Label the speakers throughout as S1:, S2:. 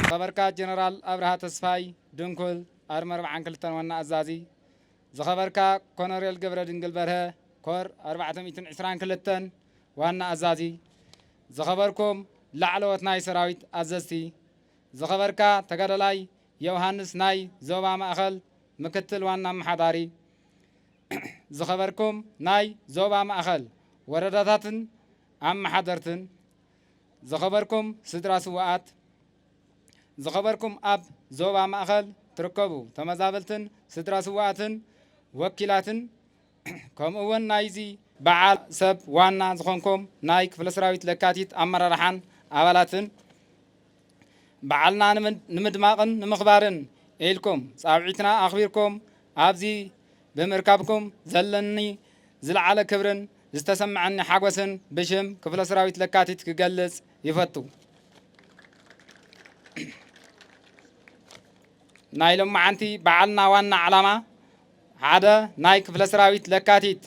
S1: ዝኸበርካ ጀነራል ኣብርሃ ተስፋይ፣ ድንኩል፣ ኣርሚ ኣርብዓን ክልተን ዋና ኣዛዚ፣ ዝኸበርካ ኮነሬል ገብረድንግል በርሀ፣ ኮር ኣርባዕተ ሚእትን ዕስራን ክልተን ዋና ኣዛዚ፣ ዝኸበርኩም ላዕለዎት ናይ ሰራዊት ኣዘዝቲ፣ ዝኸበርካ ተጋዳላይ ዮውሃንስ ናይ ዞባ ማእኸል ምክትል ዋና ኣመሓዳሪ፣ ዝኸበርኩም ናይ ዞባ ማእኸል ወረዳታትን ኣመሓደርትን፣ ዝኸበርኩም ስድራ ስውኣት፣ ዝኸበርኩም ኣብ ዞባ ማእኸል ትርከቡ ተመዛበልትን ስድራ ስውኣትን ወኪላትን ከምኡ እውን ናይዚ በዓል ሰብ ዋና ዝኾንኩም ናይ ክፍለሰራዊት ለካቲት ኣመራርሓን ኣባላትን፣ በዓልና ንምድማቕን ንምኽባርን ኢልኩም ጻውዒትና ኣኽቢርኩም ኣብዚ ብምርካብኩም ዘለኒ ዝለዓለ ክብርን ዝተሰምዐኒ ሓጎስን ብሽም ክፍለ ሰራዊት ለካቲት ክገልጽ ይፈቱ። ናይ ሎማዓንቲ በዓልና ዋና ዓላማ ሓደ ናይ ክፍለ ሰራዊት ለካቲት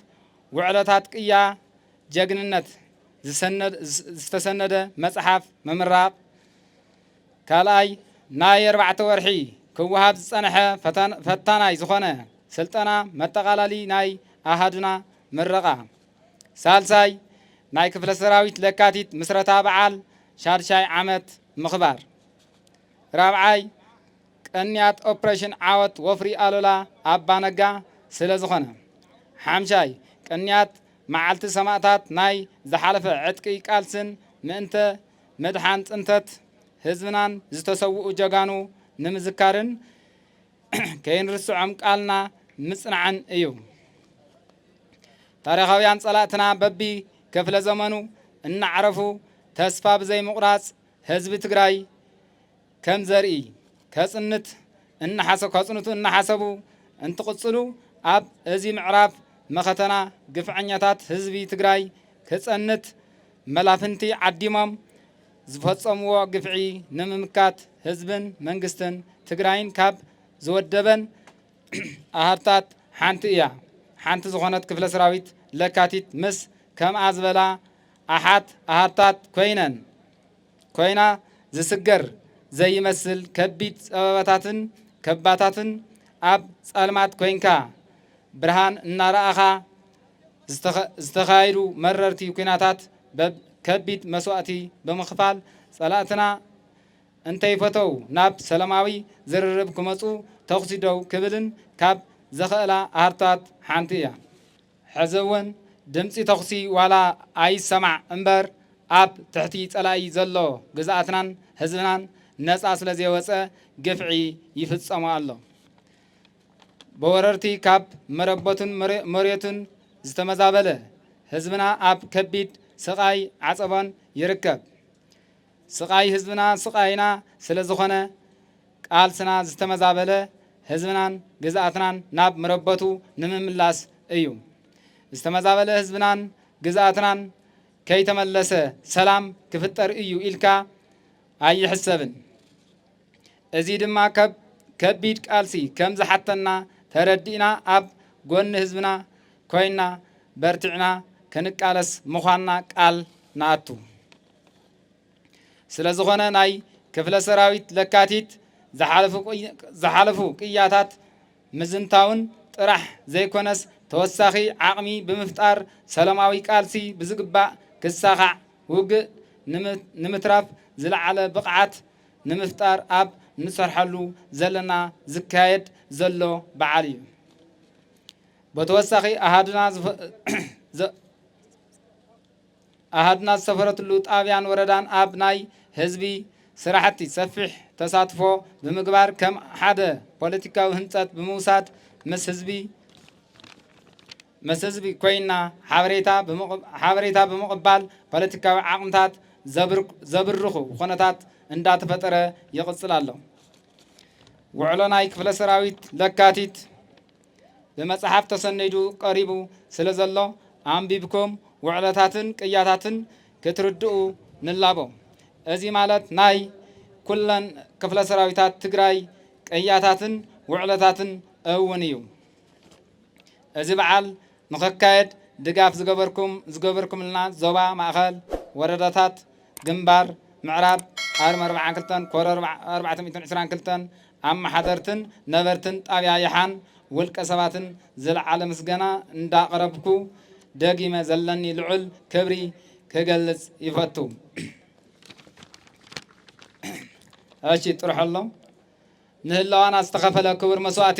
S1: ውዕለታት ቅያ ጀግንነት ዝተሰነደ መፅሓፍ ምምራቕ፣ ካልኣይ ናይ ኣርባዕተ ወርሒ ክወሃብ ዝፀንሐ ፈታናይ ዝኾነ ስልጠና መጠቓላሊ ናይ ኣሃዱና ምረቓ፣ ሳልሳይ ናይ ክፍለ ሰራዊት ለካቲት ምስረታ በዓል ሻድሻይ ዓመት ምኽባር ራብዓይ ቅንያት ኦፕሬሽን ዓወት ወፍሪ ኣሉላ ኣባ ነጋ ስለ ዝኾነ። ሓምሻይ፣ ቅንያት መዓልቲ ሰማእታት ናይ ዝሓለፈ ዕጥቂ ቃልስን ምእንተ ምድሓን ፅንተት ህዝብናን ዝተሰውኡ ጀጋኑ ንምዝካርን ከይንርስዖም ቃልና ምፅናዕን እዩ። ታሪኻውያን ፀላእትና በቢ ክፍለ ዘመኑ እናዕረፉ ተስፋ ብዘይምቑራፅ ህዝቢ ትግራይ ከም ዘርኢ ከጽንት እናሓሰ ከጽንቱ እናሓሰቡ እንትቕጽሉ ኣብ እዚ ምዕራፍ መኸተና ግፍዐኛታት ህዝቢ ትግራይ ክጸንት መላፍንቲ ዓዲሞም ዝፈጸምዎ ግፍዒ ንምምካት ህዝብን መንግስትን ትግራይን ካብ ዝወደበን ኣሃድታት ሓንቲ እያ። ሓንቲ ዝኾነት ክፍለ ሰራዊት ለካቲት ምስ ከምኣ ዝበላ ኣሓት ኣሃድታት ኮይነን ኮይና ዝስገር ዘይመስል ከቢድ ጸበባታትን ከባታትን ኣብ ጸልማት ኮይንካ ብርሃን እናረኣኻ ዝተኻየዱ መረርቲ ኩናታት በብ ከቢድ መስዋእቲ ብምኽፋል ጸላእትና እንተይፈተው ናብ ሰለማዊ ዝርርብ ክመጹ ተኹሲ ደው ክብልን ካብ ዘኸእላ ሃርታት ሓንቲ እያ። ሕዚ'ውን ድምጺ ተኹሲ ዋላ ኣይሰማዕ እምበር ኣብ ትሕቲ ጸላኢ ዘሎ ግዝኣትናን ህዝብናን ነጻ ስለዘይወጸ ግፍዒ ይፍጸሞ ኣሎ። ብወረርቲ ካብ መረበቱን መሬቱን ዝተመዛበለ ህዝብና ኣብ ከቢድ ስቓይ ዓጸቦን ይርከብ። ስቓይ ህዝብና ስቓይና ስለዝኾነ፣ ቃልስና ዝተመዛበለ ህዝብናን ግዝኣትናን ናብ መረበቱ ንምምላስ እዩ። ዝተመዛበለ ህዝብናን ግዝኣትናን ከይተመለሰ ሰላም ክፍጠር እዩ ኢልካ ኣይሕሰብን። እዚ ድማ ከብ ከቢድ ቃልሲ ከም ዝሓተና ተረዲእና ኣብ ጎኒ ህዝብና ኮይና በርቲዕና ክንቃለስ ምዃንና ቃል ንኣቱ። ስለ ዝኾነ ናይ ክፍለ ሰራዊት ለካቲት ዝሓለፉ ቅያታት ምዝንታውን ጥራሕ ዘይኮነስ ተወሳኺ ዓቕሚ ብምፍጣር ሰላማዊ ቃልሲ ብዝግባእ ክሳኻዕ ውግእ ንምትራፍ ዝለዓለ ብቕዓት ንምፍጣር ኣብ ንሰርሐሉ ዘለና ዝካየድ ዘሎ በዓል እዩ በተወሳኺ ኣሃዱና ኣሃድና ዝሰፈረትሉ ጣብያን ወረዳን ኣብ ናይ ህዝቢ ስራሕቲ ሰፊሕ ተሳትፎ ብምግባር ከም ሓደ ፖለቲካዊ ህንፀት ብምውሳድ ምስ ህዝቢ ምስ ህዝቢ ኮይና ሓበሬታ ብምቕባል ፖለቲካዊ ዓቕምታት ዘብርኹ ኩነታት እንዳተፈጠረ ይቕፅል ኣሎ። ውዕሎ ናይ ክፍለ ሰራዊት ለካቲት ብመጽሓፍ ተሰኒዱ ቀሪቡ ስለ ዘሎ ኣንቢብኩም ውዕለታትን ቅያታትን ክትርድኡ ንላቦ። እዚ ማለት ናይ ኩለን ክፍለ ሰራዊታት ትግራይ ቅያታትን ውዕለታትን እውን እዩ። እዚ በዓል ንክካየድ ድጋፍ ዝገበርኩም ዝገበርኩምልና ዞባ ማእኸል ወረዳታት ግንባር ምዕራብ ኣርሚ ኣርብዓን ክልተን ኮር ኣርባዕተ ሚእትን ዕስራን ክልተን ኣመሓደርትን ነበርትን ጣብያ ይሓን ውልቀ ሰባትን ዝለዓለ ምስገና እንዳቕረብኩ ደጊመ ዘለኒ ልዑል ክብሪ ክገልፅ ይፈቱ። እሺ ጥርሖሎም ንህላዋና ዝተኸፈለ ክቡር መስዋእቲ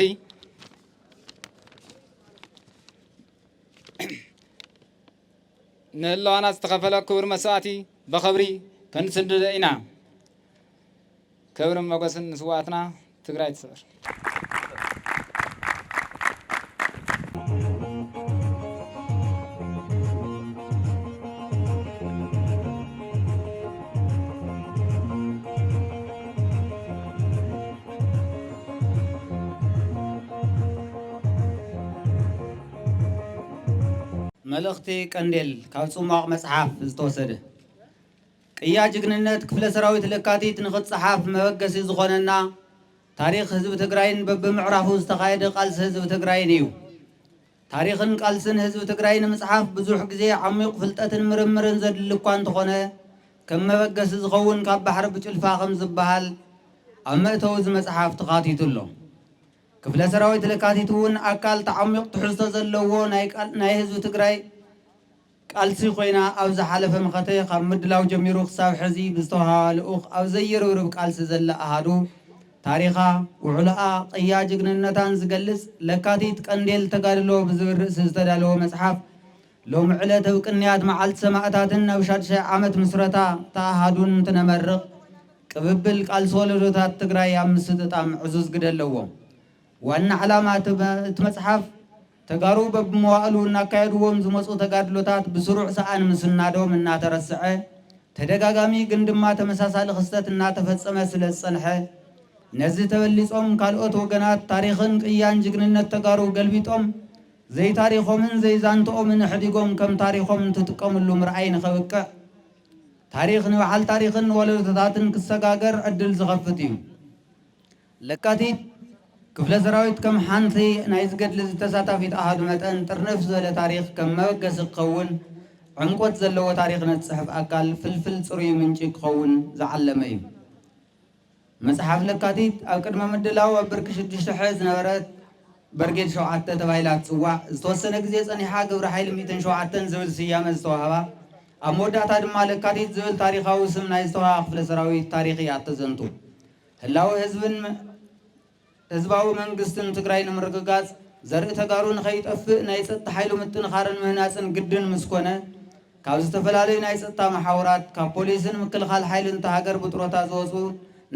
S1: ንህላዋና ዝተኸፈለ ክቡር መስዋእቲ በኸብሪ ከንስንድዶ ኢና። ክብርን መጎስን ንስዋኣትና ትግራይ ትስዕር።
S2: መልእኽቲ ቀንዴል ካብ ጽሟቕ መጽሓፍ ዝተወሰደ። ቅያ ጅግንነት ክፍለ ሰራዊት ለካቲት ንኽትጸሓፍ መበገሲ ዝኾነና ታሪኽ ህዝቢ ትግራይን በብምዕራፉ ዝተኻየደ ቃልሲ ህዝቢ ትግራይን እዩ። ታሪኽን ቃልስን ህዝቢ ትግራይ ንምፅሓፍ ብዙሕ ግዜ፣ ዓሚዩቕ ፍልጠትን ምርምርን ዘድሊ እኳ እንተኾነ ከም መበገሲ ዝኸውን ካብ ባሕሪ ብጭልፋ ከም ዝበሃል ኣብ መእተዊ እዚ መፅሓፍ ተኻቲቱ ኣሎ። ክፍለ ሰራዊት ለካቲት እውን ኣካል እቲ ዓሚዩቕ ትሕዝቶ ዘለዎ ናይ ህዝቢ ትግራይ፣ ቃልሲ ኮይና ኣብ ዝሓለፈ መኸተ ካብ ምድላው ጀሚሩ ክሳብ ሕዚ ብዝተውሃባ ልኡኽ ኣብ ዘይርብርብ ቃልሲ ዘላ ኣሃዱ ታሪኻ፣ ውዕሎኣ፣ ቅያ ጅግንነታን ዝገልጽ ለካቲት ቀንዴል ተጋድሎ ብዝብል ርእሲ ዝተዳለወ መጽሓፍ ሎሚ ዕለት እብ ቅንያት መዓልቲ ሰማእታትን እብ ሻድሻይ ዓመት ምስረታ እታ ኣሃዱን እንትነመርቕ ቅብብል ቃልሲ ወለዶታት ትግራይ ኣብ ምስጥጣም ዕዙዝ ግደ ኣለዎ። ዋና ዕላማ እቲ መጽሓፍ ተጋሩ በብመዋእሉ እናካየድዎም ዝመፁ ተጋድሎታት ብስሩዕ ሰኣን ምስናዶም እናተረስዐ ተደጋጋሚ ግን ድማ ተመሳሳሊ ክስተት እናተፈፀመ ስለዝፀንሐ ነዚ ተበሊፆም ካልኦት ወገናት ታሪኽን ቅያን ጅግንነት ተጋሩ ገልቢጦም ዘይታሪኾምን ዘይዛንትኦምን ኣሕዲጎም ከም ታሪኾም እንትጥቀምሉ ምርኣይ ንኸብቅዕ ታሪኽ ንበዓል ታሪኽን ንወለዶታትን ክሰጋገር ዕድል ዝኸፍት እዩ። ለካቲት፣ ክፍለ ሰራዊት ከም ሓንቲ ናይዚ ገድሊዚ ተሳታፊት ኣሃዱ መጠን ጥርንፍ ዝበለ ታሪኽ ከም መበገሲ ክኸውን ዕምቆት ዘለዎ ታሪኽነት ዝጽሕፍ ኣካል ፍልፍል ጽሩይ ምንጪ ክኸውን ዝዓለመ እዩ። መጽሓፍ ለካቲት ኣብ ቅድመ ምድላው ኣብ ብርኪ ሽዱሽተ ሐ ዝነበረት በርጌድ ሸውዓተ ተባሂላ እትጽዋዕ ዝተወሰነ ግዜ ጸኒሓ ግብረ ሓይሊ ሚእትን ሸውዓተን ዝብል ስያመ ዝተዋህባ ኣብ መወዳእታ ድማ ለካቲት ዝብል ታሪኻዊ ስም ናይ ዝተዋህባ ክፍለ ሰራዊት ታሪኽ እያ እተዘንቱ። ህላወ ህዝብን ህዝባዊ መንግስትን ትግራይ ንምርግጋፅ ዘርኢ ተጋሩ ንከይጠፍእ ናይ ፀጥታ ሓይሉ ምጥንኻርን ምህናፅን ግድን ምስ ኮነ ካብ ዝተፈላለዩ ናይ ፀጥታ መሓውራት ካብ ፖሊስን ምክልኻል ሓይልን እታ ሃገር ብጥሮታ ዝወፁ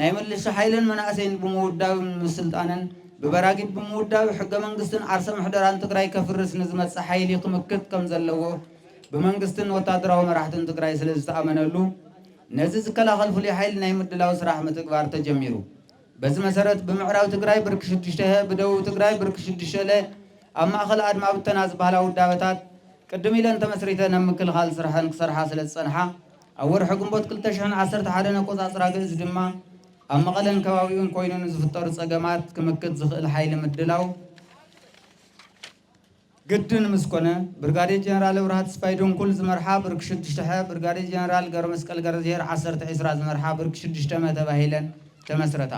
S2: ናይ ምልሻ ሓይልን መናእሰይን ብምውዳብን ምስልጣንን ብበራጊድ ብምውዳብ ሕገ መንግስትን ዓርሰ ምሕደራን ትግራይ ከፍርስ ንዝመፅእ ሓይሊ ክምክት ከም ዘለዎ ብመንግስትን ወታደራዊ መራሕትን ትግራይ ስለ ዝተኣመነሉ ነዚ ዝከላኸል ፍሉይ ሓይሊ ናይ ምድላው ስራሕ ምትግባር ተጀሚሩ። በዚ መሰረት ብምዕራብ ትግራይ ብርኪ ሽዱሽተ ሀ፣ ብደቡብ ትግራይ ብርኪ ሽዱሽተ ለ፣ ኣብ ማእኸል ኣድማ ብተና ዝበሃላ ውዳበታት ቅድም ኢለን ተመስሪተን ኣብ ምክልኻል ስርሐን ክሰርሓ ስለዝፀንሓ ኣብ ወርሒ ግንቦት ክልተ ሽሕን ዓሰርተ ሓደን ኣቆፃፅራ ግእዝ ድማ ኣብ መቐለን ከባቢኡን ኮይኑ ንዝፍጠሩ ፀገማት ክምክት ዝኽእል ሓይሊ ምድላው ግድን ምስ ኮነ፣ ብርጋዴር ጀነራል እብራሃ ተስፋይ ድንኩል ዝመርሓ ብርኪ ሽዱሽተ ሐ፣ ብርጋዴር ጀነራል ገብረመስቀል ገረዝሄር ዓሰርተ ዒስራ ዝመርሓ ብርኪ ሽዱሽተ መ ተባሂለን ተመስረታ።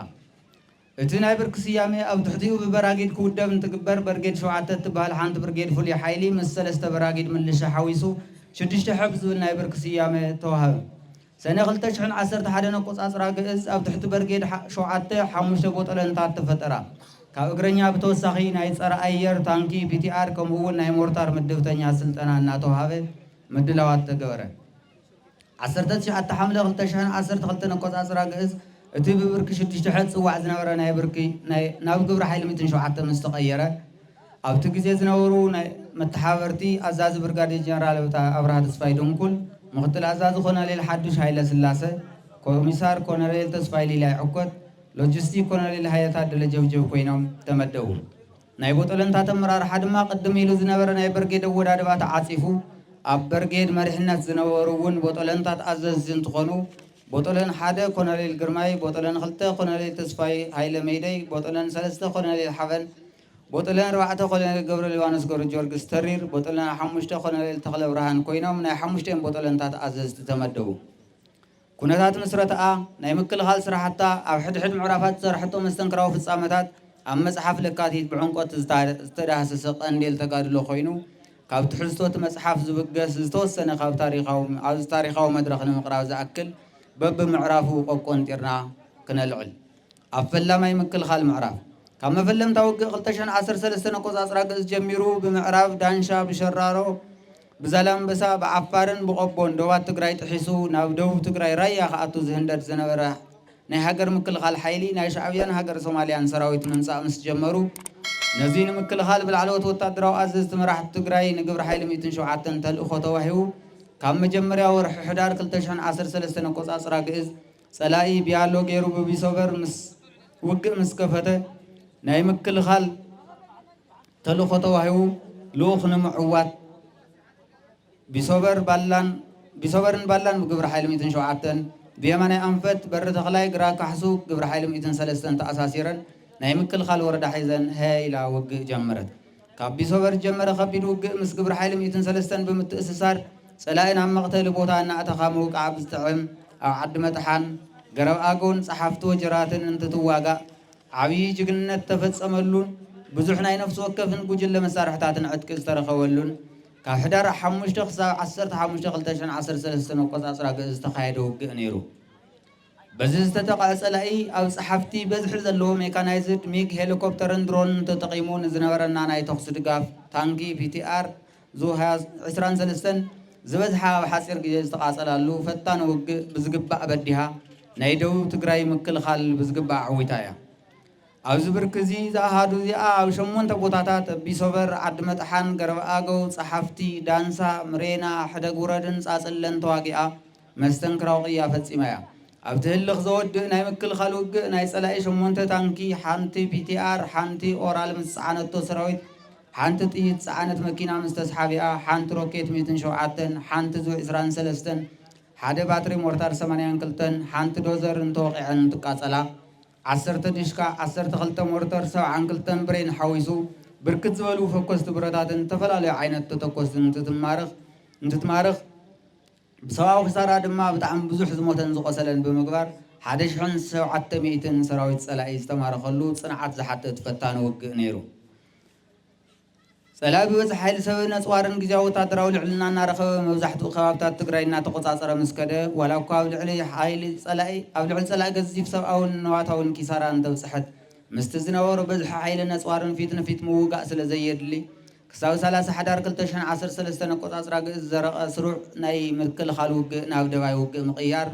S2: እቲ ናይ ብርኪ ስያሜ ኣብ ትሕቲኡ ብበራጊድ ክውደብ እንትግበር፣ በርጌድ ሸውዓተ እትበሃል ሓንቲ ብርጌድ ፍሉይ ሓይሊ ምስ ሰለስተ በራጊድ ምልሻ ሓዊሱ ሽዱሽተ ሐ ብዝብል ናይ ብርኪ ስያመ ተዋህበ። ሰነ ክልተ ሽሕን ዓሰርተ ሓደን ኣቆፃፅራ ኣግእዝ ኣብ ትሕቲ በርጌድ ሓ ሸውዓተ ሓሙሽተ ቦጠለንታት ተፈጠራ። ካብ እግረኛ ብተወሳኺ ናይ ፀረ ኣየር፣ ታንኪ፣ ፒቲኣር ከምኡ እውን ናይ ሞርታር ምድብተኛ ስልጠና እናተውሃበ ምድላዋት ተገበረ። ዓሰርተ ትሽዓተ ሓምለ ክልተ ሽሕን ዓሰርተ ክልተን ኣቆፃፅራ ኣግእዝ እቲ ብብርኪ ሽዱሽተ ሐ ዝፅዋዕ ዝነበረ ናይ ብርኪ ናይ ናብ ግብረ ሓይሊ ሚእትን ሸውዓተን ምስ ተቐየረ፣ ኣብቲ ግዜ ዝነበሩ ናይ መተሓባበርቲ ኣዛዚ ብርጋዴር ጀነራል ኣብርሃ ተስፋይ ድንኩል፣ ምክትል ኣዛዚ ኮሎኔል ሓዱሽ ሃይለስላሰ፣ ኮሚሳር ኮሎኔል ተስፋይ ሊላይ ዑኮት፣ ሎጂስቲክ ኮሎኔል ሃየ ታደለ ጀብጀብ ኮይኖም ተመደቡ። ናይ ቦጦለንታት ኣመራርሓ ድማ ቅድም ኢሉ ዝነበረ ናይ በርጌድ ኣወዳድባ ተዓጺፉ፣ ኣብ በርጌድ መሪሕነት ዝነበሩ እውን ቦጦለንታት ኣዘዝቲ እንትኾኑ፣ ቦጦለን ሓደ ኮሎኔል ግርማይ፣ ቦጦለን ክልተ ኮሎኔል ተስፋይ ሃይለ መይደይ፣ ቦጦለን ሰለስተ ኮሎኔል ሓበን፣ ቦጥልና ኣርባዕተ ኮሎኔል ገብረሊባኖስ ገብረጀወርግስ ተሪር፣ ቦጥልና ሓሙሽተ ኮሎኔል ተኽለብርሃን ኮይኖም ናይ ሓሙሽቲኦም ቦጦለንታት ኣዘዝቲ ተመደቡ። ኩነታት ምስረትኣ፣ ናይ ምክልኻል ስራሕታ፣ ኣብ ሕድሕድ ምዕራፋት ዝሰርሐቶ መስተንክራዊ ፍፃመታት ኣብ መፅሓፍ ለካቲት ብዕምቆት ዝተዳህሰሰ ቀንዴል ተጋድሎ ኮይኑ ካብ ትሕዝቶ እቲ መፅሓፍ ዝብገስ ዝተወሰነ ካብ ታሪኻዊ ኣብዚ ታሪኻዊ መድረኽ ንምቕራብ ዝኣክል በብምዕራፉ ቆቆንጢርና ክነልዕል ኣብ ፈላማይ ምክልኻል ምዕራፍ፣ ካብ መፈለምታ ውግእ ክልተ ሽሕን ዓሰርተ ሰለስተን ኣቆጻጽራ ግእዝ ጀሚሩ፣ ብምዕራብ ዳንሻ፣ ብሸራሮ፣ ብዛላምበሳ፣ ብዓፋርን ብቆቦን ዶባት ትግራይ ጥሒሱ ናብ ደቡብ ትግራይ ራያ ክኣቱ ዝህንደድ ዝነበረ ናይ ሃገር ምክልኻል ሓይሊ ናይ ሻዕብያን ሃገረ ሶማልያን ሰራዊት ምምጻእ ምስ ጀመሩ፣ ነዚ ንምክልኻል ብላዕለዎት ወታደራዊ ኣዘዝቲ መራሕቲ ትግራይ ንግብረ ሓይሊ ሚእትን ሸውዓተን ተልእኾ ተዋሂቡ ካብ መጀመርያ ወርሒ ሕዳር ክልተ ሽሕን ዓሰርተ ሰለስተን ኣቆጻጽራ ግእዝ ጸላኢ ቢያሎ ገይሩ ብቢሶበር ምስ ውግእ ምስ ከፈተ፣ ናይ ምክልኻል ተልእኾ ተዋሂቡ ልኡኽ ንምዕዋት ቢሶበር ባላን ቢሶበርን ባላን ብግብሪ ሓይሊ ሚእትን ሸውዓተን፣ ብየማናይ ኣንፈት በሪ ተኽላይ ግራ ካሕሱ ግብሪ ሓይሊ ሚእትን ሰለስተን ተኣሳሲረን ናይ ምክልኻል ወረዳ ሒዘን ሀ ኢላ ውግእ ጀመረት። ካብ ቢሶበር ዝጀመረ ከቢድ ውግእ ምስ ግብረ ሓይሊ ሚእትን ሰለስተን ብምትእስሳር ፀላኢ ናብ መቕተሊ ቦታ እናእተኻ ምውቃዕ ብዝጥዕም ኣብ ዓዲ መጥሓን፣ ገረብ ኣገውን ፀሓፍቲ ወጀራትን እንትትዋጋእ ዓብዪ ጅግንነት ዝተፈፀመሉን ብዙሕ ናይ ነፍሲ ወከፍን ጉጅለ መሳርሕታትን ዕጥቂ ዝተረኸበሉን ካብ ሕዳር ሓሙሽተ ክሳብ ዓሰርተ ሓሙሽተ ክልተ ሽሕን ዓሰርተ ሰለስተን ኣቆፃፅራ ግእዝ ዝተኻየደ ውግእ ነይሩ። በዚ ዝተጠቕዐ ፀላኢ ኣብ ፀሓፍቲ በዝሒ ዘለዎ ሜካናይዝድ፣ ሚግ፣ ሄሊኮፕተርን ድሮንን ተጠቒሙ ንዝነበረና ናይ ተኹሲ ድጋፍ፣ ታንኪ፣ ፒቲኣር፣ ዙ ሃያ ዕስራን ሰለስተን፣ ዝበዝሓ ኣብ ሓፂር ግዜ ዝተቓፀላሉ ፈታኒ ውግእ ብዝግባእ በዲሃ ናይ ደቡብ ትግራይ ምክልኻል ብዝግባእ ኣዕዊታ እያ። ኣብዚ ብርኪ እዚ ዝኣሃዱ እዚኣ ኣብ ሸሞንተ ቦታታት፣ ኣቢሶበር፣ ዓዲ መጥሓን፣ ገረብ ኣገው፣ ፀሓፍቲ፣ ዳንሳ፣ ምሬና፣ ሕደግ ውረድን ፃፅለን ተዋጊኣ። መስተንክራዊ ቅያ ፈጺማ እያ። ኣብቲ ህልኽ ዘወድእ ናይ ምክልኻል ውግእ፣ ናይ ጸላኢ ሸሞንተ ታንኪ፣ ሓንቲ ፒቲኣር፣ ሓንቲ ኦራል ምስ ዝጸዓነቶ ሰራዊት፣ ሓንቲ ጥይት ዝጸዓነት መኪና ምስ ተስሓቢኣ፣ ሓንቲ ሮኬት ሚእትን ሸውዓተን፣ ሓንቲ ዙ ዕስራን ሰለስተን፣ ሓደ ባትሪ ሞርታር ሰማንያን ክልተን፣ ሓንቲ ዶዘርን ተወቒዐን እንትቃጸላ፣ ዓሰርተ ዲሽቃ፣ ዓሰርተ ክልተ ሞርተር፣ ሰብዓን ክልተን ብሬን ሓዊሱ ብርክት ዝበሉ ፈኮስቲ ብረታትን ዝተፈላለዩ ዓይነት ተተኮስትን እንትትማርኽ፣ ብሰብኣዊ ክሳራ ድማ ብጣዕሚ ብዙሕ ዝሞተን ዝቖሰለን ብምግባር ሓደ ሽሕን ሸውዓተ ሚእትን ሰራዊት ጸላኢ ዝተማረኸሉ ጽንዓት ዝሓትት ፈታኒ ውግእ ነይሩ። ጸላኢ ብበዝሒ ሓይሊ ሰብን ኣጽዋርን ግዝያዊ ወተሃደራዊ ልዕልና እናረኸበ መብዛሕትኡ ከባብታት ትግራይ እናተቖጻጸረ ምስ ከደ ዋላ እኳ ኣብ ልዕሊ ሓይሊ ጸላኢ ኣብ ልዕሊ ጸላኢ ገዚፍ ሰብኣውን ንዋታውን ኪሳራ እንተብጽሐት ምስቲ ዝነበሮ በዝሒ ሓይልን ኣጽዋርን ፊት ንፊት ምውጋእ ስለዘየድሊ ክሳብ ሰላሳ ሕዳር ክልተ ሽሕን ዓሰርተ ሰለስተን ኣቆጻጽራ ግእዝ ዝዘረቀ ስሩዕ ናይ ምክልኻል ውግእ ናብ ደባይ ውግእ ምቕያር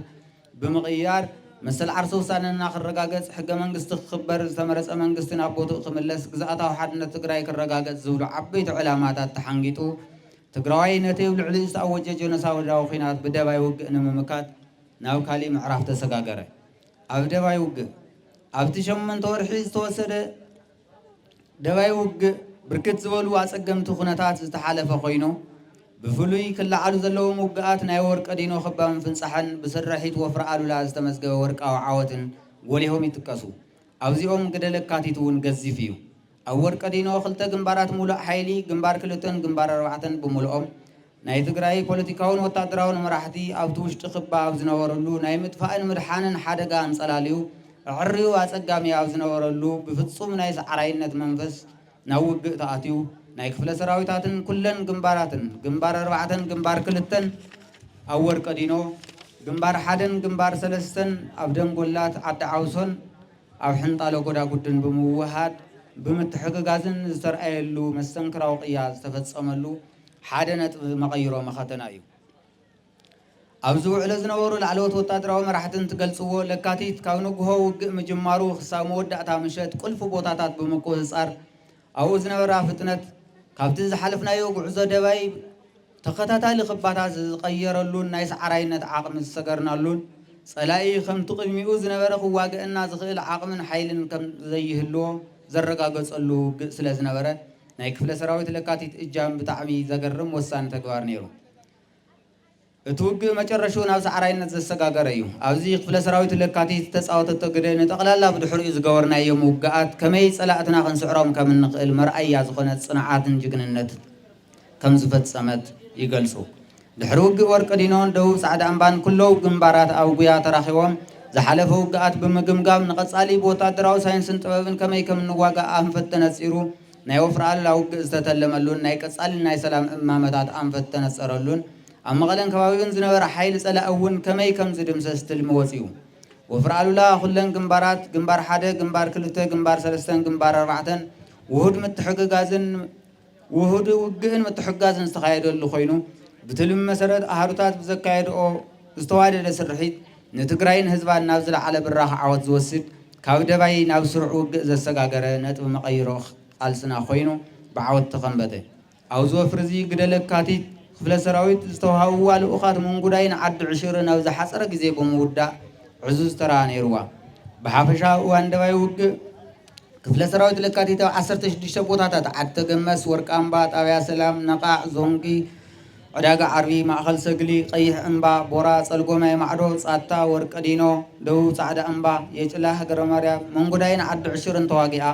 S2: ብምቕያር መሰል ዓርሰ ውሳነና ክረጋገጽ፣ ሕገ መንግስቲ ክኽበር፣ ዝተመረጸ መንግስቲ ናብ ቦትኡ ክምለስ፣ ግዝኣታዊ ሓድነት ትግራይ ክረጋገጽ ዝብሉ ዓበይቲ ዕላማታት ተሓንጊጡ ትግራዋይ ነቲ ብ ልዕሊኡ ዝተኣወጀ ጀኖሳውዳዊ ኹናት ብደባይ ውግእ ንምምካት ናብ ካሊእ ምዕራፍ ተሰጋገረ። ኣብ ደባይ ውግእ ኣብቲ ሸምንተ ወርሒ ዝተወሰደ ደባይ ውግእ ብርክት ዝበሉ ኣፀገምቲ ኩነታት ዝተሓለፈ ኮይኑ ብፍሉይ ክለዓሉ ዘለዎም ውግኣት ናይ ወርቂ ዲኖ ክባ ምፍንፃሕን ብስርሒት ወፍሪ ኣሉላ ዝተመዝገበ ወርቃዊ ዓወትን ጎሊሆም ይጥቀሱ። ኣብዚኦም ግደ ለካቲት እውን ገዚፍ እዩ። ኣብ ወርቂ ዲኖ ክልተ ግንባራት ሙሉእ ሓይሊ፣ ግንባር ክልተን ግንባር ኣርባዕተን ብምሉኦም፣ ናይ ትግራይ ፖለቲካውን ወታደራውን መራሕቲ ኣብቲ ውሽጢ ክባ ኣብ ዝነበርሉ ናይ ምጥፋእን ምድሓንን ሓደጋ ኣንፀላልዩ ኣዐርዩ ኣፀጋሚ ኣብ ዝነበረሉ ብፍፁም ናይ ሰዓራይነት መንፈስ ናብ ውግእ ተኣትዩ ናይ ክፍለ ሰራዊታትን ኩለን ግንባራትን ግንባር ኣርባዕተን ግንባር ክልተን ኣብ ወርቀዲኖ ግንባር ሓደን ግንባር ሰለስተን ኣብ ደንጎላት ዓዲ ዓውሶን ኣብ ሕንጣሎ ጎዳጉድን ብምውህሃድ ብምትሕግጋዝን ዝተርኣየሉ መስተንክራዊ ቅያ ዝተፈፀመሉ ሓደ ነጥቢ መቐይሮ መኸተና እዩ። ኣብዚ ውዕሎ ዝነበሩ ላዕለዎት ወታደራዊ መራሕቲ እንትገልጽዎ፣ ለካቲት ካብ ንግሆ ውግእ ምጅማሩ ክሳብ መወዳእታ ምሸት ቁልፊ ቦታታት ብምቁጽጻር ኣብኡ ዝነበራ ፍጥነት ካብቲ ዝሓለፍናዮ ጉዕዞ ደባይ ተኸታታሊ ክባታት ዝቐየረሉን ናይ ሰዓራይነት ዓቕሚ ዝሰገርናሉን ጸላኢ ከምቲ ቅድሚኡ ዝነበረ ክዋገእና ዝኽእል ዓቕምን ሓይልን ከምዘይህልዎ ዘረጋገጸሉ ውግእ ስለዝነበረ ናይ ክፍለ ሰራዊት ለካቲት እጃም ብጣዕሚ ዘገርም ወሳኒ ተግባር ነይሩ። እቲ ውግእ መጨረሽኡ ናብ ሰዓራይነት ዘሰጋገረ እዩ። ኣብዚ ክፍለ ሰራዊት ለካቲት ዝተፃወተቶ ግደ ንጠቕላላ ብድሕሪኡ ዝገበርናዮም ውግኣት ከመይ ፀላእትና ክንስዕሮም ከም እንኽእል መርኣያ ዝኾነ ፅንዓትን ጅግንነት ከም ዝፈፀመት ይገልፁ። ድሕሪ ውግእ ወርቅዲኖን ደቡብ ጻዕዳ እምባን ኩሎው ግንባራት ኣብ ጉያ ተራኺቦም ዝሓለፈ ውግኣት ብምግምጋም ንቐጻሊ ብወታደራዊ ሳይንስን ጥበብን ከመይ ከም እንዋጋእ ኣንፈት ተነጺሩ ናይ ወፍሪ ኣሉላ ውግእ ዝተተለመሉን ናይ ቀጻሊ ናይ ሰላም እማመታት ኣንፈት ዝተነጸረሉን ኣብ መቐለን ከባቢኡን ዝነበረ ሓይሊ ጸላኢ እውን ከመይ ከም ዝድምሰስ ትልሚ ወጺኡ ወፍሪ ኣሉላ ኩለን ግንባራት ግንባር ሓደ ግንባር ክልተ ግንባር ሰለስተን ግንባር ኣርባዕተን ውሁድ ምትሕግጋዝን ውሁድ ውግእን ምትሕግጋዝን ዝተኻየደሉ ኮይኑ፣ ብትልሚ መሰረት ኣሃዱታት ብዘካየድኦ ዝተዋደደ ስርሒት ንትግራይን ህዝባን ናብ ዝለዓለ ብራኸ ዓወት ዝወስድ ካብ ደባይ ናብ ስሩዕ ውግእ ዘሰጋገረ ነጥቢ መቐይሮ ቃልስና ኮይኑ ብዓወት ተኸምበተ። ኣብዚ ወፍሪ እዚ ግደ ለካቲት ክፍለ ሰራዊት ዝተውሃብዋ ልኡኻት ምንጉዳይ ንዓዲ ዕሽር ናብ ዝሓፀረ ግዜ ብምውዳእ ዕዙዝ ተራ ነይርዋ። ብሓፈሻ ኣብ እዋን ደባይ ውግእ ክፍለ ሰራዊት ለካቲት ኣብ ዓሰርተ ሽዱሽተ ቦታታት ዓድተ ገመስ፣ ወርቃምባ፣ ጣብያ ሰላም፣ ነቓዕ፣ ዞንጊ፣ ዕዳጋ ዓርቢ፣ ማእኸል ሰግሊ፣ ቀይሕ እምባ፣ ቦራ፣ ፀልጎማይ ማዕዶ፣ ፃታ፣ ወርቂ ዲኖ፣ ደቡብ ፃዕዳ እምባ፣ የጭላ፣ ሃገረ ማርያም፣ መንጉዳይን ዓዲ ዕሽርን ተዋጊኣ።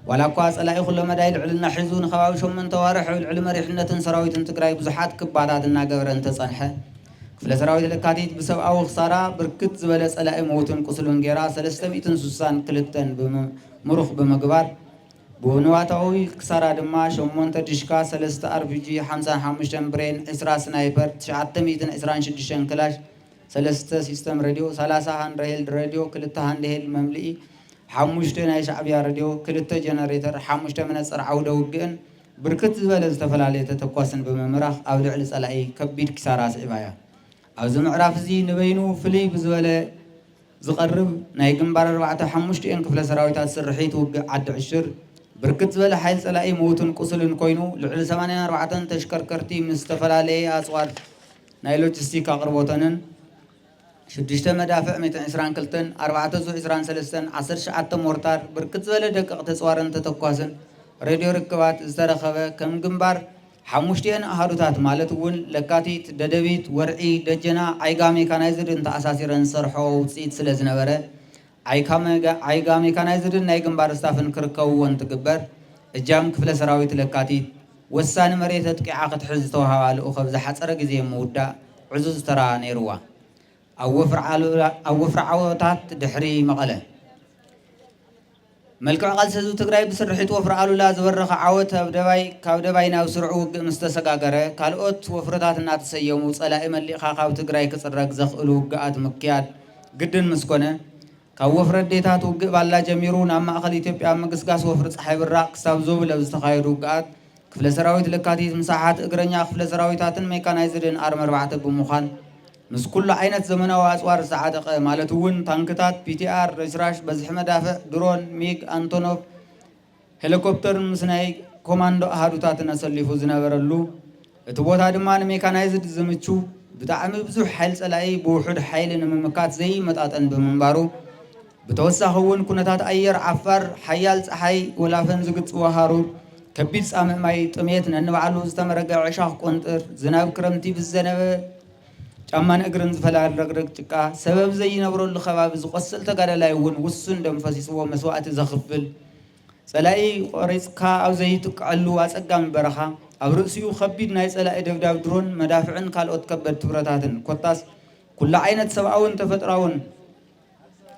S2: ዋላ እኳ ፀላኢ ኩሎ መዳይ ልዕልና ሒዙ ንከባቢ ሸሞንተ ኣዋርሕ ኣብ ልዕሊ መሪሕነትን ሰራዊትን ትግራይ ብዙሓት ክባታት እናገበረ እንተፀንሐ፣ ክፍለ ሰራዊት ለካቲት ብሰብኣዊ ክሳራ ብርክት ዝበለ ፀላኢ ምዉትን ቁስሉን ገይራ ሰለስተ ሚእትን ስሳን ክልተን ምሩኽ ብምግባር ብንዋታዊ ክሳራ ድማ ሸሞንተ ድሽካ ሰለስተ ኣርፒጂ ሓምሳን ሓሙሽተን ብሬን ዕስራ ስናይፐር ትሽዓተ ሚእትን ዕስራን ሽዱሽተን ክላሽ ሰለስተ ሲስተም ረድዮ ሰላሳ ሃንድሄልድ ረድዮ ክልተ ሃንድሄልድ መምልኢ ሓሙሽተ ናይ ሻዕብያ ረድዮ ክልተ ጀነሬተር ሓሙሽተ መነፀር ዓዉደ ዉግእን ብርክት ዝበለ ዝተፈላለየ ተተኳስን ብምምራኽ ኣብ ልዕሊ ፀላኢ ከቢድ ኪሳራ ኣስዒባ እያ። ኣብዚ ምዕራፍ እዚ ንበይኑ ፍልይ ብዝበለ ዝቐርብ ናይ ግንባር ኣርባዕተ ሓሙሽቲኤን ክፍለ ሰራዊታት ስርሒት ውግእ ዓዲ ዕሽር ብርክት ዝበለ ሓይል ፀላኢ ምውትን ቁስልን ኮይኑ ልዕሊ ሰማንያን ኣርባዕተን ተሽከርከርቲ ምስ ዝተፈላለየ ኣፅዋር ናይ ሎጂስቲክ ኣቕርቦተንን ሽዱሽተ መዳፍዕ ሚእትን ዕስራን ክልተን፣ ኣርባዕተ ዙ ዕስራን ሰለስተን፣ ዓሰርተ ትሽዓተ ሞርታር፣ ብርክት ዝበለ ደቀቕ ተጽዋርን ተተኳስን ሬድዮ ርክባት ዝተረከበ ከም ግንባር ሓሙሽቲኤን ኣሃዱታት ማለት እውን ለካቲት፣ ደደቢት፣ ወርዒ፣ ደጀና፣ ዓይጋ ሜካናይዝድን ተኣሳሲረን ዝሰርሖኦ ውጽኢት ስለዝነበረ ዓይካ ሜካናይዝድን ናይ ግንባር ስታፍን ክርከብዎ እንትግበር፣ እጃም ክፍለ ሰራዊት ለካቲት፣ ወሳኒ መሬት ኣጥቂዓ ክትሕዝ ዝተውሃባ ልኡኽ ኣብ ዝሓጸረ ግዜ ምውዳእ ዕዙዝ ተራ ነይሩዋ። ኣብ ወፍሪ ዓወታት ድሕሪ መቐለ፣ መልክዕ ቃልሲ ህዝቢ ትግራይ ብስርሒት ወፍሪ ኣሉላ ዝበረኸ ዓወት ኣብ ደባይ ካብ ደባይ ናብ ስሩዕ ውግእ ምስ ተሰጋገረ ካልኦት ወፍርታት እናተሰየሙ ፀላኢ መሊእኻ ካብ ትግራይ ክፅረግ ዘኽእሉ ውግኣት ምክያድ ግድን ምስ ኮነ ካብ ወፍሪ ኣዴታት ውግእ ባላ ጀሚሩ ናብ ማእኸል ኢትዮጵያ ኣብ ምግስጋስ ወፍሪ ፀሓይ ብራቕ ክሳብ ዞብል ኣብ ዝተኻየዱ ውግኣት ክፍለ ሰራዊት ለካቲት ምስ ኣሓት እግረኛ ክፍለ ሰራዊታትን ሜካናይዝድን ኣርሚ ኣርባዕተ ብምዃን ምስ ኩሉ ዓይነት ዘመናዊ ኣፅዋር ዝተዓጠቐ ማለት እውን ታንክታት፣ ፒቲኣር፣ ረሽራሽ፣ በዝሒ መዳፍዕ፣ ድሮን፣ ሚግ፣ ኣንቶኖቭ፣ ሄሊኮፕተርን ምስ ናይ ኮማንዶ ኣሃዱታትን ኣሰሊፉ ዝነበረሉ እቲ ቦታ ድማ ንሜካናይዝድ ዝምችው ብጣዕሚ ብዙሕ ሓይሊ ፀላኢ ብውሑድ ሓይሊ ንምምካት ዘይመጣጠን ብምንባሩ ብተወሳኺ እውን ኩነታት ኣየር ዓፋር፣ ሓያል ፀሓይ፣ ወላፈን ዝግፅዎ ሃሩር፣ ከቢድ ፃምእ ማይ፣ ጥምየት፣ ነንባዕሉ ዝተመረገ ዕሻኽ ቆንጥር፣ ዝናብ ክረምቲ ብዝዘነበ ጫማን እግርን ዝፈላል ረግረግ ጭቃ፣ ሰበብ ዘይነብረሉ ከባቢ ዝቆስል ተጋዳላይ እውን ውሱን ደም ፈሲስዎ መስዋእቲ ዘኽፍል፣ ፀላኢ ቆሪፅካ ኣብ ዘይትክዐሉ ኣፀጋሚ በረኻ፣ ኣብ ርእሲኡ ከቢድ ናይ ፀላኢ ደብዳብ ድሮን፣ መዳፍዕን ካልኦት ከበድቲ ብረታትን፣ ኮታስ ኩሉ ዓይነት ሰብኣውን ተፈጥሮኣውን።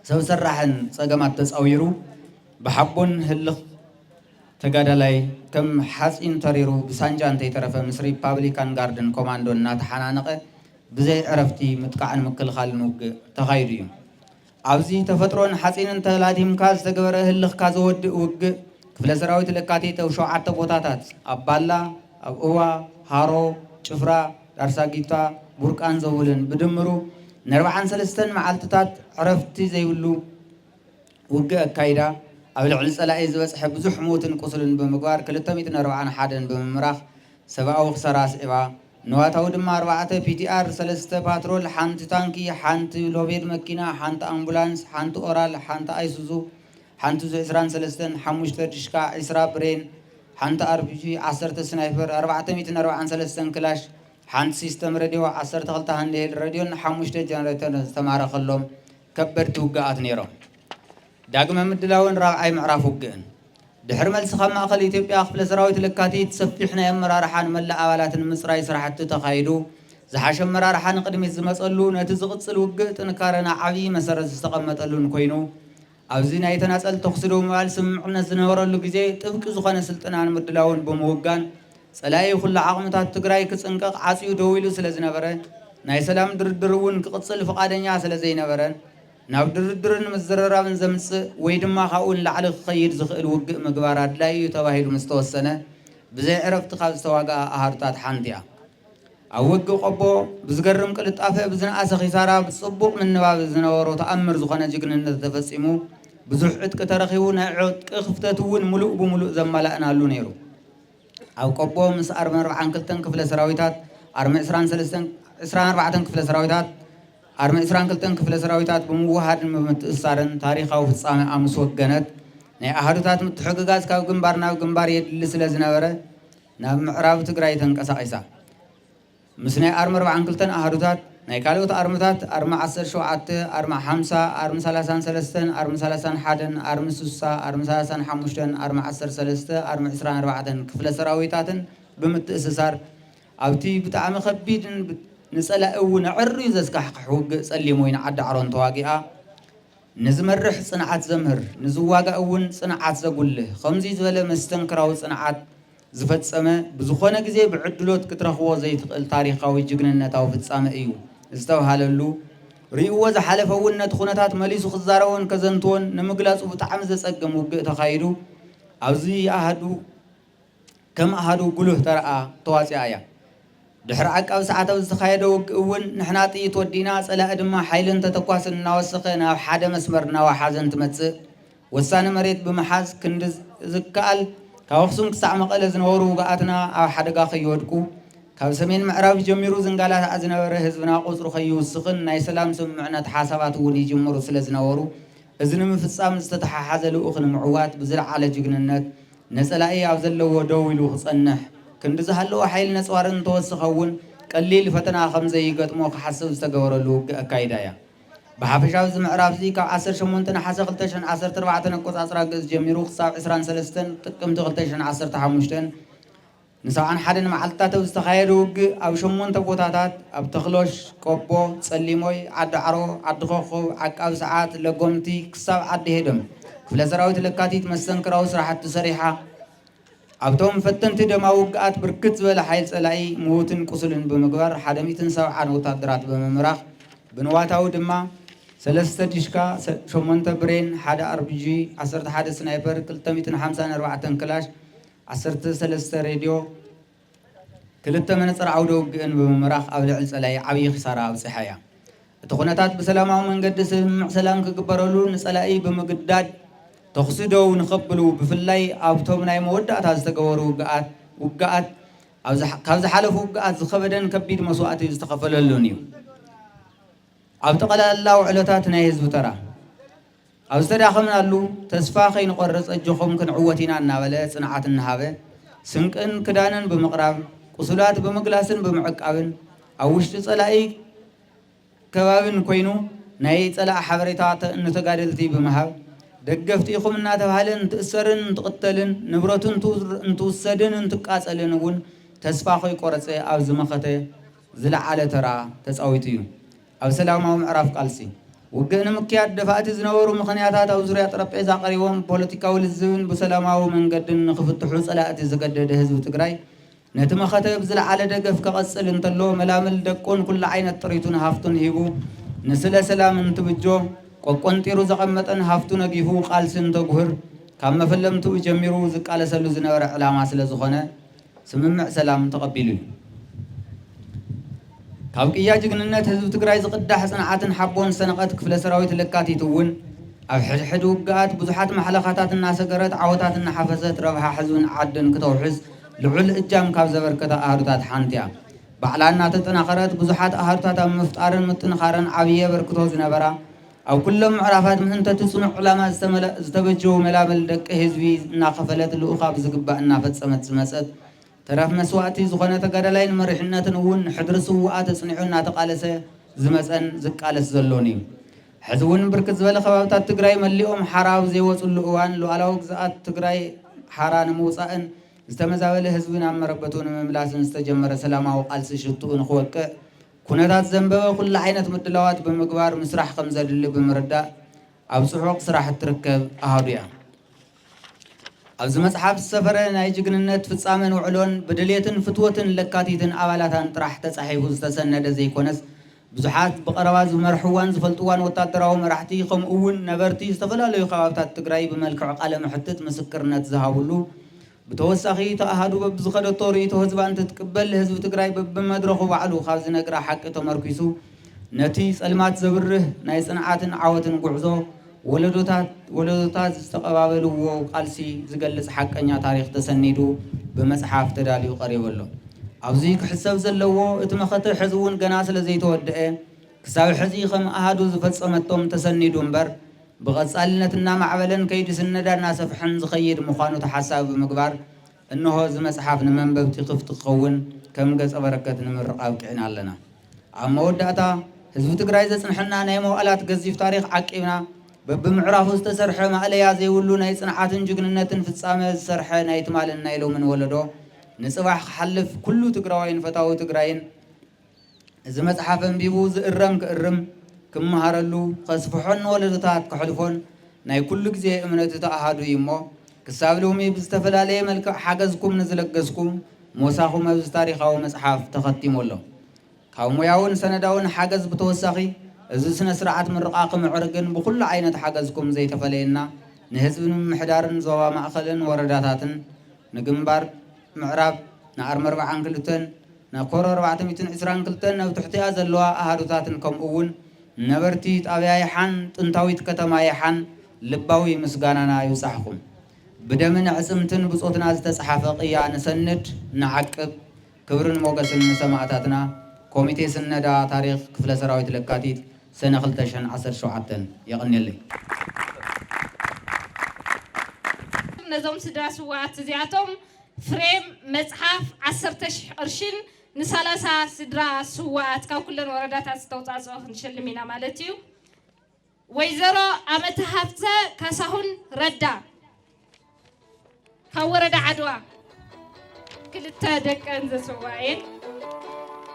S2: ሰብ ሰራሕን ፀገማት ተፃዊሩ ብሓቦን ህልኽ ተጋዳላይ ከም ሓፂን ተሪሩ ብሳንጃ እንተይተረፈ ምስ ሪፓብሊካን ጋርድን ኮማንዶን እናተሓናነቐ ብዘይ ዕረፍቲ ምጥቃዕን ምክልኻልን ውግእ ተኻይዱ እዩ። ኣብዚ ተፈጥሮን ሓፂንን ተላዲምካ ዝተገበረ ህልኽካ ዘወድእ ውግእ ክፍለ ሰራዊት ለካቲት ኣብ ሸውዓተ ቦታታት ኣብ ባላ፣ ኣብ እዋ፣ ሃሮ፣ ጭፍራ፣ ዳርሳጊታ፣ ቡርቃን ዘውልን ብድምሩ ንኣርብዓን ሰለስተን መዓልትታት ዕረፍቲ ዘይብሉ ውግእ ኣካይዳ፣ ኣብ ልዕሊ ጸላኢ ዝበጽሐ ብዙሕ ሞትን ቁስልን ብምግባር ክልተ ሚእትን ኣርብዓን ሓደን ብምምራኽ ሰብኣዊ ክሳራ ኣስዒባ፣ ንዋታዊ ድማ ኣርባዕተ ፒቲኣር፣ ሰለስተ ፓትሮል፣ ሓንቲ ታንኪ፣ ሓንቲ ሎቤድ መኪና፣ ሓንቲ ኣምቡላንስ፣ ሓንቲ ኦራል፣ ሓንቲ ኣይሱዙ፣ ሓንቲ ዙ ዕስራን ሰለስተን፣ ሓሙሽተ ድሽቃ፣ ዕስራ ብሬን፣ ሓንቲ ኣርፒጂ፣ ዓሰርተ ስናይፐር፣ ኣርባዕተ ሚትን ኣርብዓን ሰለስተን ክላሽ፣ ሓንቲ ሲስተም ረድዮ፣ ዓሰርተ ክልተ ሃንድሄልድ ረድዮን ሓሙሽተ ጀነሬተርን ዝተማረኸሎም ከበድቲ ውግኣት ነይሮም። ዳግመ ምድላውን ራብዓይ ምዕራፍ ውግእን። ድሕሪ መልሲ ካብ ማእኸል ኢትዮጵያ ክፍለ ሰራዊት ለካቲት ሰፊሕ ናይ ኣመራርሓን መላእ ኣባላትን ምፅራይ ስራሕቲ ተኻይዱ ዝሓሸ ኣመራርሓ ንቕድሚት ዝመፀሉ ነቲ ዝቕፅል ውግእ ጥንካረና ዓብዪ መሰረት ዝተቐመጠሉን ኮይኑ ኣብዚ ናይ ተናፀል ተኹሲ ደው ምባል ስምምዕነት ዝነበረሉ ግዜ ጥብቂ ዝኾነ ስልጥናን ምድላውን ብምውጋን ፀላኢ ኩሉ ዓቕምታት ትግራይ ክፅንቀቕ ዓፅዩ ደው ኢሉ ስለዝነበረ ናይ ሰላም ድርድር እውን ክቕፅል ፍቓደኛ ስለዘይነበረ ናብ ድርድርን ምዝርራብን ዘምፅእ ወይ ድማ ካብኡ ንላዕሊ ክኸይድ ዝኽእል ውግእ ምግባር ኣድላዪ እዩ ተባሂሉ ምስተወሰነ ብዘይ ዕረፍቲ ካብ ዝተዋግኣ ኣሃዱታት ሓንቲ እያ። ኣብ ውግእ ቆቦ ብዝገርም ቅልጣፈ ብዝነኣሰ ኺሳራ ብጽቡቕ ምንባብ ዝነበሮ ተኣምር ዝኾነ ጅግንነት ተፈጺሙ ብዙሕ ዕጥቂ ተረኺቡ ናይ ዕጥቂ ክፍተት እውን ምሉእ ብምሉእ ዘማላእናሉ ነይሩ። ኣብ ቆቦ ምስ ኣርሚ ኣርብዓን ክልተን ክፍለ ሰራዊታት ኣርሚ ዕስራን ሰለስተን ዕስራን ኣርባዕተን ክፍለ ሰራዊታት ኣርሚ ዕስራን ክልተን ክፍለ ሰራዊታት ብምውህሃድን ብምትእስሳርን ታሪኻዊ ፍጻሜኣ ምስ ወገነት ናይ ኣሃዱታት ምትሕግጋዝ ካብ ግንባር ናብ ግንባር የድሊ ስለ ዝነበረ ናብ ምዕራብ ትግራይ ተንቀሳቒሳ። ምስ ናይ ኣርሚ ኣርባዓን ክልተን ኣሃዱታት ናይ ካልኦት ኣርምታት፣ ኣርሚ ዓሰርተ ሸውዓተ፣ ኣርሚ ሓምሳ፣ ኣርሚ ሰላሳን ሰለስተን፣ ኣርሚ ሰላሳን ሓደን፣ ኣርሚ ስሳ፣ ኣርሚ ሰላሳን ሓሙሽተን፣ ኣርሚ ዓሰርተ ሰለስተ፣ ኣርሚ ዕስራን ኣርባዕተን ክፍለ ሰራዊታትን ብምትእስሳር ኣብቲ ብጣዕሚ ከቢድን ንፀላኢ እውን ኣዐርዩ ዘስካሕክሕ ውግእ ፀሊም ወይኒ ዓዲ ዓሮን ተዋጊኣ። ንዝመርሕ ጽንዓት ዘምህር፣ ንዝዋጋእ እውን ጽንዓት ዘጉልህ፣ ከምዙይ ዝበለ መስተንክራዊ ጽንዓት ዝፈጸመ ብዝኾነ ግዜ ብዕድሎት ክትረኽቦ ዘይትኽእል ታሪኻዊ ጅግንነታዊ ፍጻመ እዩ ዝተብሃለሉ ርእዩዎ ዝሓለፈ እውን ነቲ ኩነታት መሊሱ ክዛረቦን ከዘንትዎን ንምግላጹ ብጣዕሚ ዘጸግም ውግእ ተኻይዱ ኣብዚ ኣሃዱ ከም ኣሃዱ ጉሉህ ተራኣ ተዋጺኣ እያ። ድሕሪ ዓቃብ ሰዓት ኣብ ዝተኻየደ ውግእ እውን ንሕና ጥይት ወዲእና ጸላኢ ድማ ሓይልን ተተኳስን እናወሰኸ ናብ ሓደ መስመር እናወሓዘ እንትመጽእ ወሳኒ መሬት ብምሓዝ ክንዲ ዝከኣል ካብ ኣኽሱም ክሳዕ መቐለ ዝነበሩ ውጉኣትና ኣብ ሓደጋ ከይወድቁ ካብ ሰሜን ምዕራብ ጀሚሩ ዝንጋላታዕ ዝነበረ ህዝብና ቁጽሩ ከይውስኽን ናይ ሰላም ስምምዕነት ሓሳባት እውን ይጅምሩ ስለዝነበሩ እዚ ንምፍጻም ዝተተሓሓዘ ልኡኽ ንምዕዋት ብዝለዓለ ጅግንነት ንጸላኢ ኣብ ዘለዎ ደው ኢሉ ክጸንሕ፣ ክንዲ ዝሃለወ ሓይሊ ነጽዋርን እንተወሰኸ እውን ቀሊል ፈተና ከምዘይገጥሞ ክሓስብ ዝተገበረሉ ውግእ ኣካይዳ እያ። ብሓፈሻ ኣብዚ ምዕራፍ'ዚ ካብ ዓሰርተ ሸሞንተ ነሓሰ ክልተ ሽሕን ዓሰርተ ኣርባዕተን ኣቆጻጽራ ግእዝ ጀሚሩ ክሳብ ዕስራን ሰለስተን ጥቅምቲ ክልተ ሽሕን ዓሰርተ ሓሙሽተን፣ ንሰብዓን ሓደን መዓልትታት ኣብ ዝተኻየደ ውግእ ኣብ ሸሞንተ ቦታታት፣ ኣብ ተኽሎሽ፣ ቆቦ፣ ጸሊሞይ፣ ዓዲዓሮ፣ ዓዲ ኮኾብ፣ ዓቃብ ሰዓት፣ ለጎምቲ ክሳብ ዓዲ ሄደም፣ ክፍለ ሰራዊት ለካቲት መስተንክራዊ ስራሕቲ ሰሪሓ። ኣብቶም ፈተንቲ ደማዊ ውግኣት ብርክት ዝበለ ሓይል ጸላኢ ምዉትን ቁሱልን ብምግባር ሓደ ሚእትን ሰብዓን ወታደራት ብምምራኽ ብንዋታዊ ድማ፣ ሰለስተ ዲሽካ፣ ሸሞንተ ብሬን፣ ሓደ ኣርፒጂ፣ ዓሰርተ ሓደ ስናይፐር፣ ክልተ ሚእትን ሓምሳን ኣርባዕተን ክላሽ፣ ዓሰርተ ሰለስተ ሬድዮ ክልተ መነጽር ዓውደ ውግእን ብምምራኽ ኣብ ልዕሊ ጸላኢ ዓብዪ ክሳራ ኣብጺሓ እያ። እቲ ኩነታት ብሰላማዊ መንገዲ ስምምዕ ሰላም ክግበረሉ ንጸላኢ ብምግዳድ ተኹሲ ደው ንኸብሉ ብፍላይ ኣብቶም ናይ መወዳእታ ዝተገበሩ ውግኣት ውግኣት ካብ ዝሓለፉ ውግኣት ዝኸበደን ከቢድ መስዋእቲ ዝተኸፈለሉን እዩ። ኣብ ጠቕላላ ውዕሎታት ናይ ህዝቢ ተራ ኣብ ዝተዳኸምናሉ ተስፋ ከይንቖርፅ ኣጆኹም ክንዕወት ኢና እናበለ ፅንዓት እናሃበ ስንቅን ክዳንን ብምቕራብ፣ ቁሱላት ብምግላስን ብምዕቃብን ኣብ ውሽጢ ፀላኢ ከባቢን ኮይኑ ናይ ፀላኢ ሓበሬታ ንተጋደልቲ ብምሃብ ደገፍቲ ኢኹም እናተብሃለ እንትእሰርን እንትቕተልን ንብረቱ እንትውሰድን እንትቃፀልን እውን ተስፋ ከይቆረፀ ኣብዚ መኸተ ዝለዓለ ተራ ተፃዊቱ እዩ። ኣብ ሰላማዊ ምዕራፍ ቃልሲ፣ ውግእ ንምክያድ ደፋእቲ ዝነበሩ ምኽንያታት ኣብ ዙርያ ጠረጴዛ ቀሪቦም ብፖለቲካዊ ልዝብን ብሰላማዊ መንገድን ንኽፍትሑ ፀላእቲ ዝገደደ ህዝቢ ትግራይ ነቲ መኸተ ብዝለዓለ ደገፍ ከቐፅል እንተሎ መላምል ደቁን ኩሉዓይነት ጥሪቱን ሃፍቱን ሂቡ ንስለ ሰላም እንትብጆ ቆቆንጢሩ ዘቐመጠን ሃፍቱ ነጊፉ ቃልሲ እንተጉህር ካብ መፈለምትኡ ጀሚሩ ዝቃለሰሉ ዝነበረ ዕላማ ስለዝኾነ ስምምዕ ሰላም ተቐቢሉ እዩ። ካብ ቅያ ጅግንነት ህዝቢ ትግራይ ዝቕዳሕ ፅንዓትን ሓቦን ዝሰነቐት ክፍለ ሰራዊት ለካቲት እውን ኣብ ሕድሕድ ውግኣት ብዙሓት ማሕለኻታት እናሰገረት ዓወታት እናሓፈሰት ረብሓ ህዝብን ዓድን ክተውሕስ ልዑል እጃም ካብ ዘበርከታ ኣሃዱታት ሓንቲ እያ። ባዕላ እናተጠናኸረት ብዙሓት ኣሃዱታት ኣብ ምፍጣርን ምጥንኻርን ዓብዪ ኣበርክቶ ዝነበራ ኣብ ኩሎም ምዕራፋት ምእንተ'ቲ ጽኑዕ ዕላማ ዝተመለእ ዝተበጀዉ መላምል ደቂ ህዝቢ እናኸፈለት ልኡኻ ብዝግባእ እናፈጸመት ዝመጸት ተረፍ መስዋእቲ ዝኾነ ተጋዳላይን መሪሕነትን እውን ንሕድሪ ስዉኣት ኣጽኒዑ እናተቓለሰ ዝመጸን ዝቃለስ ዘሎን'ዩ። ሕዚ'ውን ብርክት ዝበለ ከባብታት ትግራይ መሊኦም ሓራ ኣብ ዘይወጽሉ እዋን ሉኣላዊ ግዝኣት ትግራይ ሓራ ንምውጻእን ዝተመዛበለ ህዝቢ ናብ መረበቱ ንምምላስን ዝተጀመረ ሰላማዊ ቃልሲ ሽትኡ ንኽወቅዕ ኩነታት ዘንበበ ኩሉ ዓይነት ምድላዋት ብምግባር ምስራሕ ከምዘድሊ ብምርዳእ ኣብ ጽዑቕ ስራሕ እትርከብ ኣሃዱ እያ። ኣብዚ መጽሓፍ ዝሰፈረ ናይ ጅግንነት ፍጻመን ውዕሎን ብድሌትን ፍትወትን ለካቲትን ኣባላታን ጥራሕ ተጻሒፉ ዝተሰነደ ዘይኮነስ ብዙሓት ብቐረባ ዝመርሕዋን ዝፈልጥዋን ወታደራዊ መራሕቲ ከምኡ'ውን ነበርቲ ዝተፈላለዩ ከባብታት ትግራይ ብመልክዕ ቃለ-መሕትት ምስክርነት ዝሃብሉ ብተወሳኺ እቲ ኣሃዱ በብዝኸደቶ ርእይቶ ህዝባ እንትትቅበል ህዝቢ ትግራይ በብመድረኹ ባዕሉ ካብ ዝነግራ ሓቂ ተመርኲሱ ነቲ ፀልማት ዘብርህ ናይ ፅንዓትን ዓወትን ጉዕዞ ወለዶታት ወለዶታት ዝተቐባበልዎ ቃልሲ ዝገልፅ ሓቀኛ ታሪኽ ተሰኒዱ ብመፅሓፍ ተዳልዩ ቀሪቡ ኣሎ። ኣብዚ ክሕሰብ ዘለዎ እቲ መኸተ ሕዚ እውን ገና ስለዘይተወደኤ ክሳብ ሕዚ ከም ኣሃዱ ዝፈፀመቶም ተሰኒዱ እምበር ብቐፃልነት እናማዕበለን ከይዲ ስነዳ እናሰፍሐን ዝኸይድ ምዃኑ ተሓሳቢ ብምግባር እነሆ እዚ መፅሓፍ ንመንበብቲ ክፍቲ ክኸውን ከም ገፀ በረከት ንምርቓ ኣብቂዕና ኣለና። ኣብ መወዳእታ ህዝቢ ትግራይ ዘፅንሐና ናይ መዋእላት ገዚፍ ታሪኽ ዓቂብና በቢምዕራፉ ዝተሰርሐ ማእለያ ዘይብሉ ናይ ፅንዓትን ጅግንነትን ፍፃመ ዝሰርሐ ናይ ትማልን ናይ ሎምን ወለዶ ንፅባሕ ክሓልፍ ኩሉ ትግራዋይን ፈታዊ ትግራይን እዚ መጽሓፍ ኣንቢቡ ዝእረም ክእርም፣ ክመሃረሉ፣ ከስፍሖን ንወለዶታት ከሕልፎን ናይ ኩሉ ግዜ እምነት እቲ ኣሃዱ እዩ እሞ፣ ክሳብ ሎሚ ብዝተፈላለየ መልክዕ ሓገዝኩም ንዝለገስኩም ሞሳኹም ኣብዚ ታሪኻዊ መጽሓፍ ተኸቲሙ ኣሎ። ካብ ሞያውን ሰነዳውን ሓገዝ ብተወሳኺ እዚ ስነ-ስርዓት ምርቓ ክምዕርግን ብኹሉ ዓይነት ሓገዝኩም ዘይተፈለየና ንህዝቢ ንምምሕዳርን ዞባ ማእከልን ወረዳታትን ንግንባር ምዕራብ ንኣርመርብዓን ክልተን ነኮሮ ኣርባዕተ ሚእትን ዕስራን ክልተን ኣብ ትሕቲኣ ዘለዋ ኣሃዱታትን ከምኡ'ውን ነበርቲ ጣብያ የሓን ጥንታዊት ከተማ የሓን ልባዊ ምስጋናና ይብጻሕኩም። ብደምን ኣዕጽምትን ብጾትና ዝተጽሓፈ ቅያ ንሰንድ ንዓቅብ። ክብርን ሞገስን ንሰማእታትና። ኮሚቴ ስነዳ ታሪኽ ክፍለ ሰራዊት ለካቲት ሰነ ክልተ ሽሕን ዓሰርተ ሸውዓተን። የቐንየለይ። ነዞም
S3: ስድራ ስውኣት እዚኣቶም ፍሬም መፅሓፍ ዓሰርተ ሽሕ ቅርሺን ንሳላሳ ስድራ ስውኣት ካብ ኩለን ወረዳታት ዝተውፃፅኦ ክንሸልም ኢና ማለት እዩ። ወይዘሮ ኣመተ ሃፍተ ካሳሁን ረዳ ካብ ወረዳ ዓድዋ ክልተ ደቀን ዘስውኣ እየን።